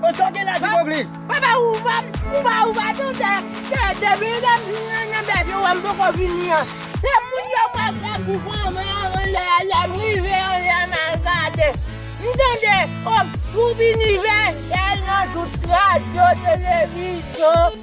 Ou sòti la ti bogli. Papa ou pa ou pa ou pa tou se se depi lèm nan nan bèk yo wèm poko vini an. Se moun yo mwen fè pou pran mwen anlè a lèm rive anlè a mal gade m tande oh pou binivèsèl nan tout radyo televizyon.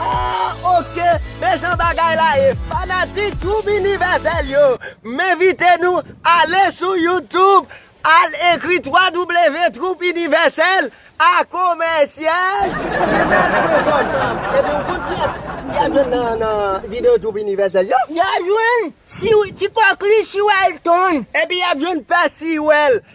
Ahh ok men jan bagay la ye fanatik twoup inivèsèl yo m envite nou ale sou youtube al ekri wwwtwoupinivèsèl a komèsyal gmail pwen kòm epi ou konn pyès pou y al jwenn nan nan videyo twoup inivèsèl yo y al jwenn siw ti kòkli siw elton epi y ap jwenn pè siw el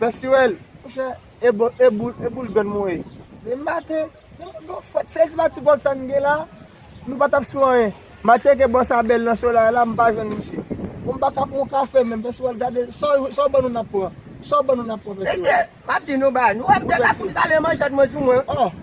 Pè Sirèl, monchè, e bon, e boul, e boul grann mwen ye? Depi maten, depi mwen gen yon fwèt, sèl ti pati pòv sa n gen la, nou pa t ap sou anyen. M a tcheke bò sa bèl nan solay la, m pa jwenn misye. Bon, m pa ka pran yon kafe menm, Pè Sirèl, gade, sa w ban nou n ap pran, sa w ban nou n ap pran, Pè Sirèl. Mesye, m ap di nou bagay, nou wè m te ka fout rale manchèt mwen sou mwen.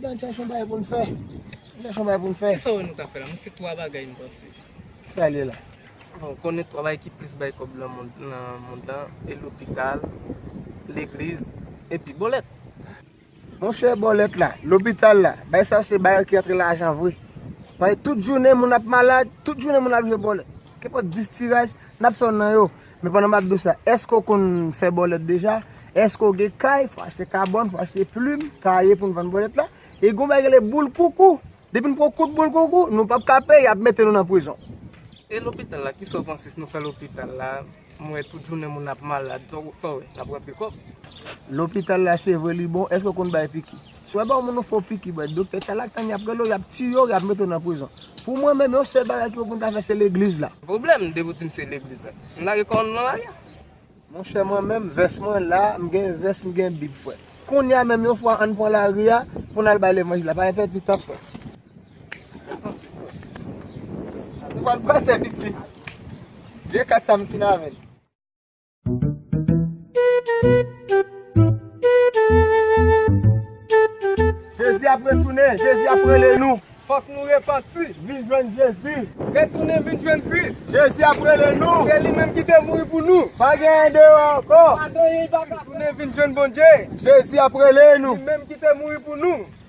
Nan chèche yon bagay pou n fè. Nan chèche yon bagay pou n fè. Ki sa ou wè nou ka fè la? Mwen se 3 bagay m panse. Ki sa l ye la? Bon, ou konnen 3 bagay ki plis bay kòb nan mond lan, e lopital, legliz, epi bòlèt. Monchè bòlèt la, lopital la, bagay sa yo se bagay ki antre lajan vre. Paske tout jounen moun ap malad, tout jounen moun ap jwe bòlèt. Kenpòt 10 tiraj, n ap fè youn nan yo. Men pandan map diw sa, eske ou konn fè bòlèt deja? Eske ou gen kay pou achte kabòn, pou achte plim, kaye poun vann bòlèt la? E gon bagay ki rele boul koukou. Depi nou poko kout boul koukou, nou pap ka peye, yap mete nou nan prizon. E lopital la, kisa ou panse si nou fè lopital la? M wè tout jounen moun ap malad, sa ou wè? Nap rantre kòb? Lopital la se vre li bon, eske ou konn bay piki? Si yo ba yon moun yon fo piki bwè, doktè chalatan yap rele w, yap tiye w, yap mete w nan prizon. Pou mwen menm, yon sèl bagay ki pou moun ta fè se legliz la. Pwoblèm, depi w di m se legliz la, m lage kò m nan lari. Monchè mwen menm, vès mwen la, m gen vès, m gen bib frè. Kounye a menm yon fwa ann pran lari a pou n al bay levanjil la, pa gen pèdi tan frè. Ou pa t panse piti. Vye kat sa m fin avè l. Jezi ap retounen, Jezi ap rele nou. Fòk nou repanti, vin jwenn Jezi. Retounen vin jwenn Kris. Jezi ap rele nou. Se li menm ki te mouri pou nou. Pa gen anyen deyò ankò. Pa gen anyen li pa ka fè. Retounen vin jwenn Bondye. Jezi ap rele nou. Li menm ki te mouri pou nou.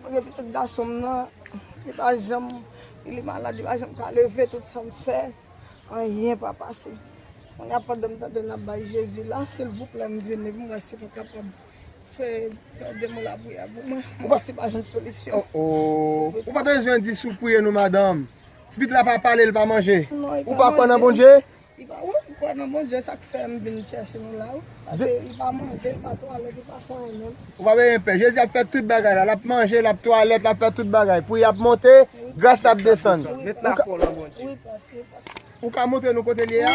Mwen gen pitit gason m nan, li pa janm, li malad, li pa janm ka leve, tout sa m fè, anyen pa pase. Kounye a pandan m tande n ap bay Jezi la, silvouplè m vini pou m wè si nou kapab fè de mo lapriyè pou mwen, m wè si pa jwenn solisyon. O o, ou pa bezwen di si w priye non madanm. Ti pitit la pa pale, li pa manje. Ou pa kwè nan Bondye? Li pa wont pou kwè nan Bondye sak fèm vin chèche nou la wi paske li pa manje li pa twalèt li pa fè anyen menm. Ou pa bezwen pè Jezi ap fè tout bagay la lap manje lap twalèt lap fè tout bagay pou yap monte gras la ap desann Met la fò nan Bondye. Ou ka montre nou kote li ye a?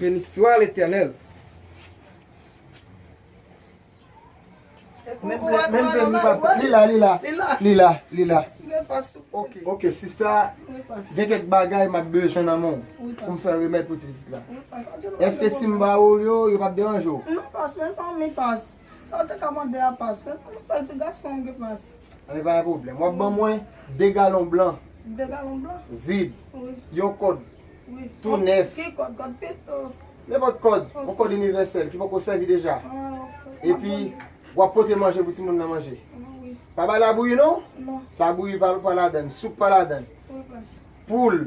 Benitsois l'Eternel. Ok sista gen kek bagay map bezwen nan menw pou m fè remèd pou ti pitit la. Eske sim ba ou yo yo pap deranje w? Sa ou te ka mande a pas fèt. Kòman sa ti gason an gen pas. Anyen pa gen pwoblèm. Wap ban mwen 2 galon blan. 2 galon blan? Vid. Wi. Yon kòd. Wi. Tou nèf. Ki kòd? Kòd pito? Nenpòt kòd. Ok. Yon kòd inivèsèl ki poko sèvi deja. An, ok. Map ban li. Epi, wap pote manje pou timoun nan manje. An, wi. Pa bay labouyi non. Non. Labouyi pa ladann. Soup pa ladann. Wi, pas. Poul.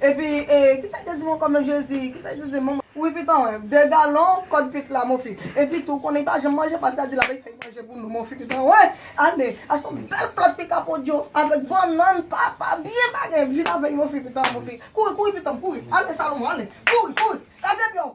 Epi e kisa li te di ankò menm jezi kisa li te di manman. Wi pitan wè, 2 galon kòd pit la monfi. Epi tou konnen li pa janm manje pase a di lap fè manje pou nou monfi pitan wè. Ale achte yon bèl plat pika podyon avèk bannann papa byen bagay epi vin avèl monfi pitan monfi. Kouri kouri pitanm kouri ale salomon ale kouri kouri kase pyew.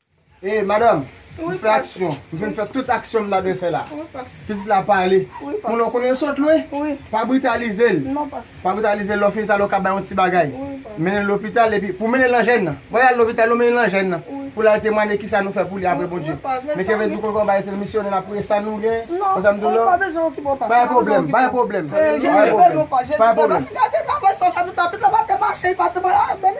Hey madam, m fè aksyon, m fin fè tout aksyon m ta dwe fè la. Pitit la pale. Ou nan konnen l sòt lwen? Pa britalize l. Pa britalize l, lè w fin talè w ka bay yon ti bagay. Mennen l lopital epi pou mennen l nan jèn nan. Wè y al lopital nou mennen l nan jèn nan. Pou l al temwanye kisa nou fè pou li apre Bondye. Men keve di w konn fè yon bagay se l misyonè n ap priye sa nou gen. Wè sa m di w la? Pa bezwen okipe w pa. Pa gen pwoblèm, pa gen pwoblèm. Pa gen pwoblèm.